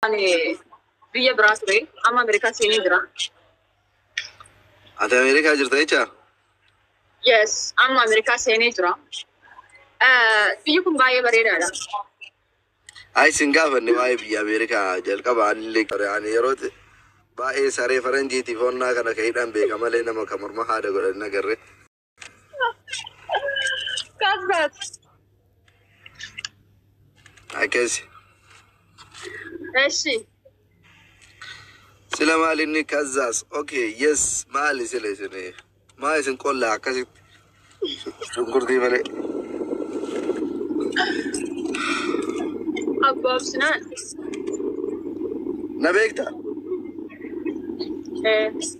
Ani biyya biraa ture. Amma Ameerikaa seenee jira. Ati Ameerikaa jirta jecha? Yes, amma Ameerikaa seenee jira. Eh, Biyyi kun baay'ee bareedaadha. Ay sin gaafanne waa'ee biyya Ameerikaa jalqaba anillee ture. Ani yeroo ti- baay'ee saree faranjiitiif honnaa kana ka hidhan beeka malee nama ka morma haada godhan hin agarre. Akkasi. Eshi. Sila maal inni kazzaas. Okay, yes. Maali sila isin maal isin qollaa akkasitti. Shunkurtii malee. Abbaabsinaan. Na beektaa? Eh.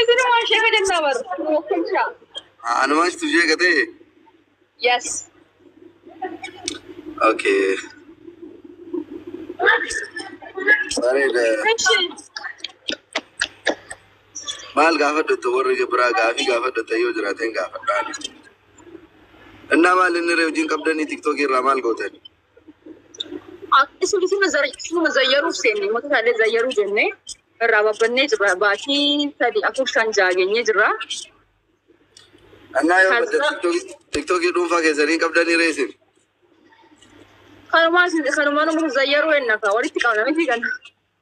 Isinu waan ishee gadi hin dabaru. Tokkicha. Anumaan situ ishee gatee. Yes. Okay. Bareeda. Ishi. Maal gaafadhatta warri biraa gaafii gaafadhatta yoo jiraateen gaafadhaan. Innaa maal inni ree wajjin qabdanii tiktookii irraa maal gootan? Akkasuma isuma zar- isuma zayyaruuf seenne mata isaallee zayyaruu jenne irraa babbannee jirra baatii sadi afur shan jaha geenyee jirra. Annaa yoo Kan badda biraa- tiktookii- tiktookii dhuunfaa keessanii qabdanii reesiif. Kanumaa isin- kanumaa nama zayyaruu ennaka walitti qabna miti kana.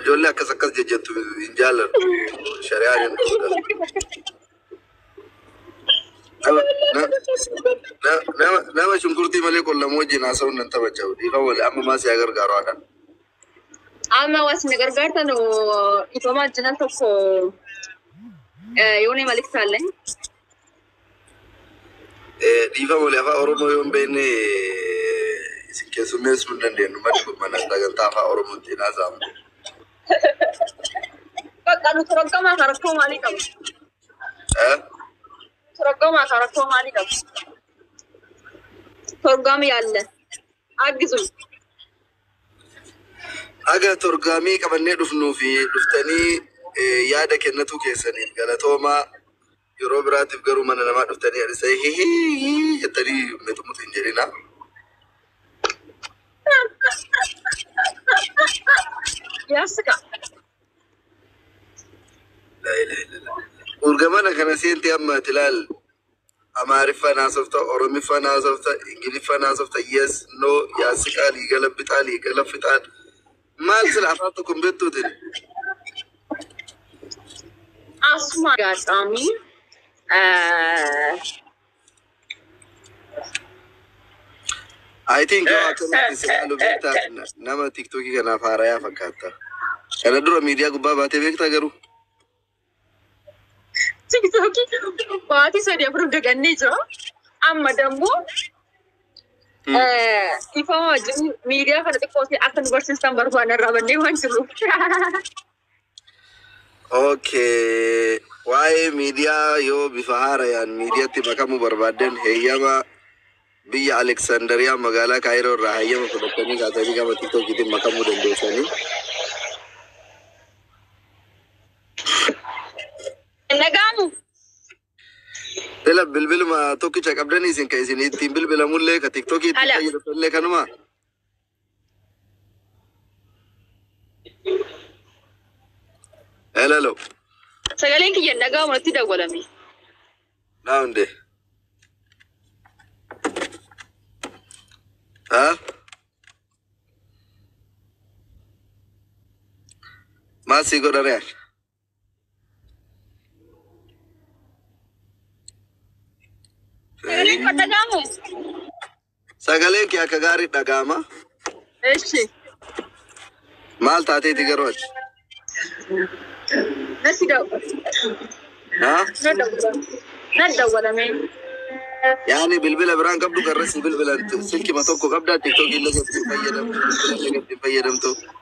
Ijoollee akkas akkas jejjettu hin jaalladhu. Shari'aan hin dhorkas. Nama na- na- nama nama shunkurtii malee qullamu wajjin haasa'uun nan taphacha'u. Dhiifama wali amma maa si haa gargaaru haadha. Amma waan isin gargaartan dhiifama jiran tokko yoonee malik taallee. Dhiifa wali afaa Oromoo yoo hin beekne isin keessummeessuu hin dandeenyu. Mali kun mana sagantaa afaa Oromootti hin haasa'amu. Bakka nu toroggamaa kan rakkoo maalii qabu? Eh? Toroggamaa kan rakkoo maalii qabu? Toroggaama yaalle. Aggisu. Haga torgaamii qabannee dhufnuu fi dhuftanii yaada kennatuu keessaniif galatoomaa. Yeroo biraatiif garuu mana namaa dhuftanii adhisee hihii jettanii mexumuxu hin jedhina. Yaasika. Urgamana kana seentee amma ati laal Amaariffan haasofta oromiffan haasofta ingiliffan haasofta yes no yaasiqaa liigala bixaa liigala fixaan maal sila afaan tokko hin beektuutin Asuma gaacami. I think yoo akkanatti si ilaalu beektaa na- nama tiktookii kanaaf haarayaa fakkaata kana dura miidiyaa gubbaa baatee beektaa garuu Tiktokii baatii sadi afur dagannee jira. Amma dammoo dhiifama wajjin miidiyaa kana xiqqoo ta'e akka nu barsiistan barbaanna irraa bannee waan jirruuf. Okay. Waa'ee miidiyaa yoo bifa haarayaan miidiyaatti makamuu barbaaddan heeyyama Biyya Aleksandariyaa magaalaa Kaayiroo irraa hayyama fudhattanii kaatanii gama TikTokiitiin makamuu dandeessanii. Hin dhaga'amu. Sila bilbiluma tokkicha qabdanii isin ka isin ittiin bilbilamullee ka TikTokii ittiin Hala. fayyadamullee kanuma. Hello. Sagaleen kiyya nagaa uumatti dawwalame. Naa hundee. Haa? Maal sii godha re'aan? Sagaleen kee akka gaarii dhaga'ama. Eshi. Maal taateeti garuu ati? Nasi da'u. Haa? Na dawwala. Na dawwala mee. Yaani bilbila biraan qabdu garra si bilbilan silkima tokko qabdaa tiktookii illee gatti hin fayyadamtu. Illee gatti hin fayyadamtu.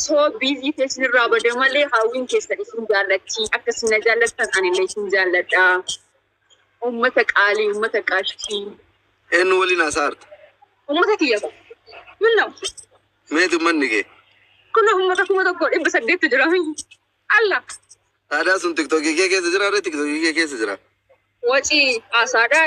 So busy tee sinirraa bade malee haawwiin keessan isin jaallatti akka isin na jaallattan anillee isin jaalladha ummata qaalii ummata qaashtii Eenyu waliin haasaa jirta? ummata kiyya ko minna Meeti ummanni kee? kun ummata kuma tokko dhibba saddeettu jira alla Aadaa sun tiktokii kee keessa jira ree tiktokii kee keessa jira. wacii haasaadhaa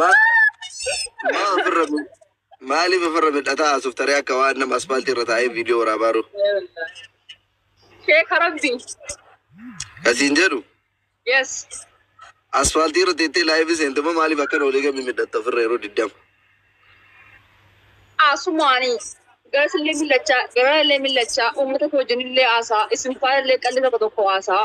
Maa ofirra maaliif ofirra midhataa haasuuf taree akka waan nama aspaaltii irra taa'ee viidiyoo waraabaa jiru. Sheeka rabbi. Kasiin jedhu Yes. aspaaltii irra teettee laayivii seentuma maaliif akkana olii gadi midhatta ofirra yeroo diddama. Asumaanii. Gara sillee millachaa, gara illee millachaa, uummata koo wajjin illee haasaa, isin faana illee qalli tokko tokko haasaa.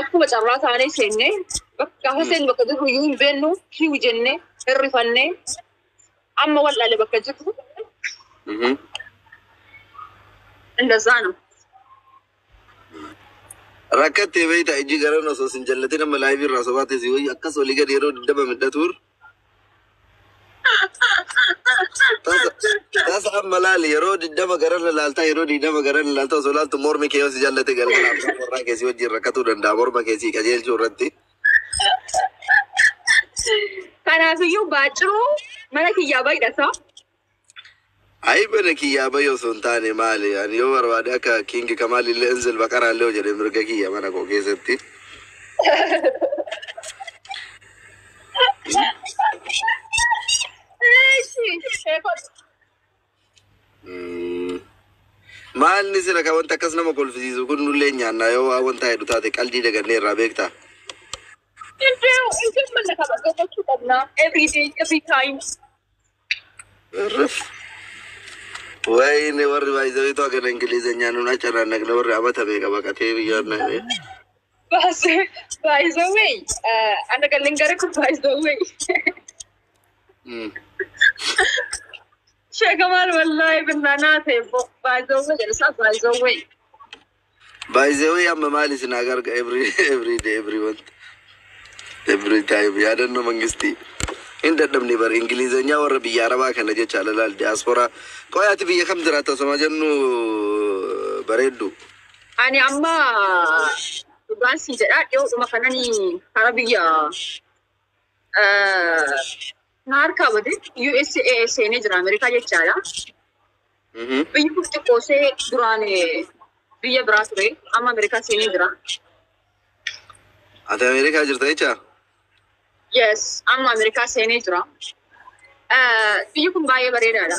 Akkuma carraa taanee seenne bakka gaafa seennu bakka jirru iyyuu hin beennu kiw jenne hirrifanne amma wal'aale bakka jirru indazaa nama. Rakkattee beektaa ijji garan osoo sin jallatin amma laayivii irraa sobaa teessii wayii akkas olii gadi yeroo dibdaba midhatuur. Tasa amma laali yeroo digdama gararra laaltaa yeroo digdama gararra laaltaa osoo laaltu mormi kee yoo si jallate galgala abbaa warraa kee si wajjin rakkatuu danda'a morma kee si qajeelchuu irratti. Kanaafiyyuu baaciruu mana kiyyaa baay'ata. Ayi bana kiyyaa bayi osoo hin taane maali ani yoo barbaade akka kiingi kamaal illee inzil baqaraa illee hojjedhe mirga kiyya mana koo keessatti. Mm. Maal ni sila ka wanta akkas nama kolfisiisu kun nullee nyaanna yoo waa wanta heddu taate qaldii dagannee irraa beektaa. Every day, every time. Irrif. Wayne warri baay'isanii too hagan Ingilizeenyaa nuun acarannaqne warri amata meeqa baqatee biyyoon naqne. By the way, ana galin gara kun by the way. Sheeka maal wallaahi binnaa naa ta'e by the way jedhe isaa by the way. By the way amma maal isin haa garga every every day every month every time yaadannoo mangistii hin dadhabne bar ingilizanyaa warra biyya arabaa kana jecha alalaal diyaasporaa qoy ati biyya kam jiraata osoma jennu bareeddu Ani amma dhugaan sii jedhaa dhiyoodhuma kanani hara biyya eh, Na harkaa bade USA seenee jira Ameerikaa jechaadha. Mhm. Biyyi kun xiqqoosee duraan eh, biyya biraa ture amma Ameerikaa seenee jira. Ati Ameerikaa jirta jecha? Yes, amma Ameerikaa seenee jira. Eh, Biyyi kun baay'ee bareedaadha.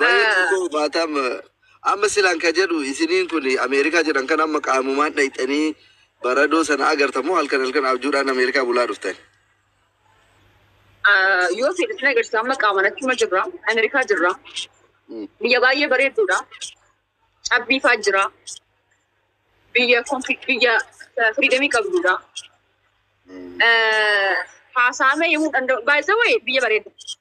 Baay'ee xiqqoo hubaataa amma amma silaan ka jedhu isiniin kun Ameerikaa jedhan kan amma qaamumaan dhayxanii baradoo sana agartan moo halkan halkan abjuudhaan Ameerikaa bulaa dhuftan. Ah, Yoo fedhe sin agarsiisa amma qaamaan achuma jirra. Ameerikaa jirra. Mm. Biyya baay'ee bareedduudha. Cabbii faa jira. Biyya konfi- biyya eh, firiidamii qabduudha. Eh, Haasaamee himuu danda'u. Baay'ee wayii biyya bareeddu.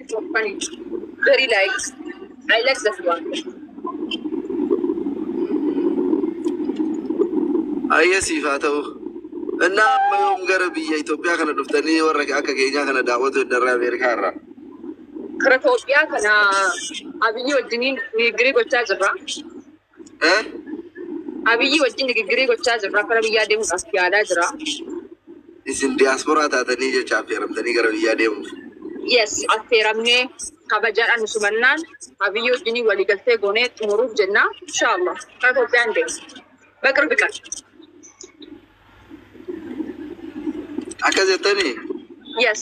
Funny. Very likes. I like that one. Ayyee siif haa ta'u. Innaa amma yoom gara biyya Itoophiyaa kana dhuftanii warra akka keenyaa kana daawwatu eddarraa Ameerikaa irraa. Kara Itoophiyaa kana abiyyi wajjiniin nigirii gochaa jirra. Abiyyi wajjin digiggirii gochaa jirra. Gara biyyaa deemuudhaaf yaadaa jira. Isin diyaasporaa taatanii jecha affeeramtanii gara biyyaa deemuuf? Yes, affeeramnee kabajaadhaan nu simannaan Abiyyi wajjin waliigaltee goonee xumuruuf jenna. Inshaallah gara Itoophiyaa hin deemnu. Baqirbi qan. Akka jettanii Yes.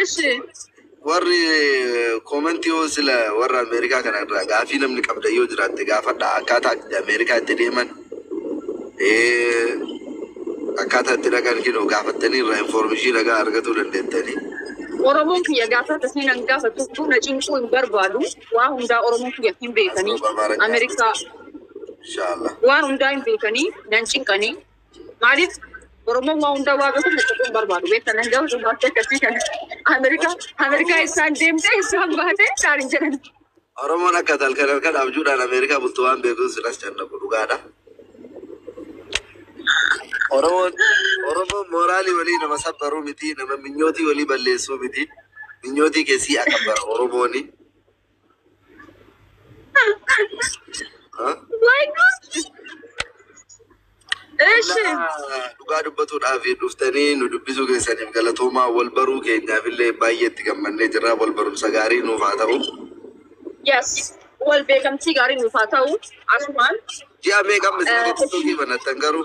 እሺ warri koomentii yoo sila warra Ameerikaa kana irraa gaafii namni qabda yoo jiraatte gaafadha akkaataa itti Ameerikaa itti deeman eh, akkaataa itti dhaqan kinoo gaafattanii irraa infoormishii nagaa argatuu dandeettanii. Oromoon kiyya gaafata siin an gaafatu na cinquu hin barbaadu. Waa hundaa Oromoon kiyya hin beekanii. Ameerikaa Inshaallah. waan hundaa hin beekanii nan cinqanii. Maaliif Oromoon waa hundaa waa beeku murteessuu hin barbaadu. Beektan hin gahu dubartii akkasii kana. Ameerikaa Ameerikaa isaan deemtee isaan baatee isaan hin jedhan. Oromoon akka halkan halkan abjuudhaan Ameerikaa bultu waan beekuun silas cannaqu dhugaadha. Oromoon Oromoon mooraalii walii nama sabbaruu miti nama minyootii walii balleessuu miti. Minyootii keessii akabara Oromooni. Dhugaa dubbatuudhaaf dhuftanii nu dubbisuu keessaniif galatoomaa wal baruu keenyaaf illee baay'ee itti gammannee jirra. Wal barumsa gaarii nuuf haa ta'u. Yes. Wal beekamtii gaarii nuuf haa ta'u. Asumaan. Ji'a meeqamma isin gadi banattan garuu?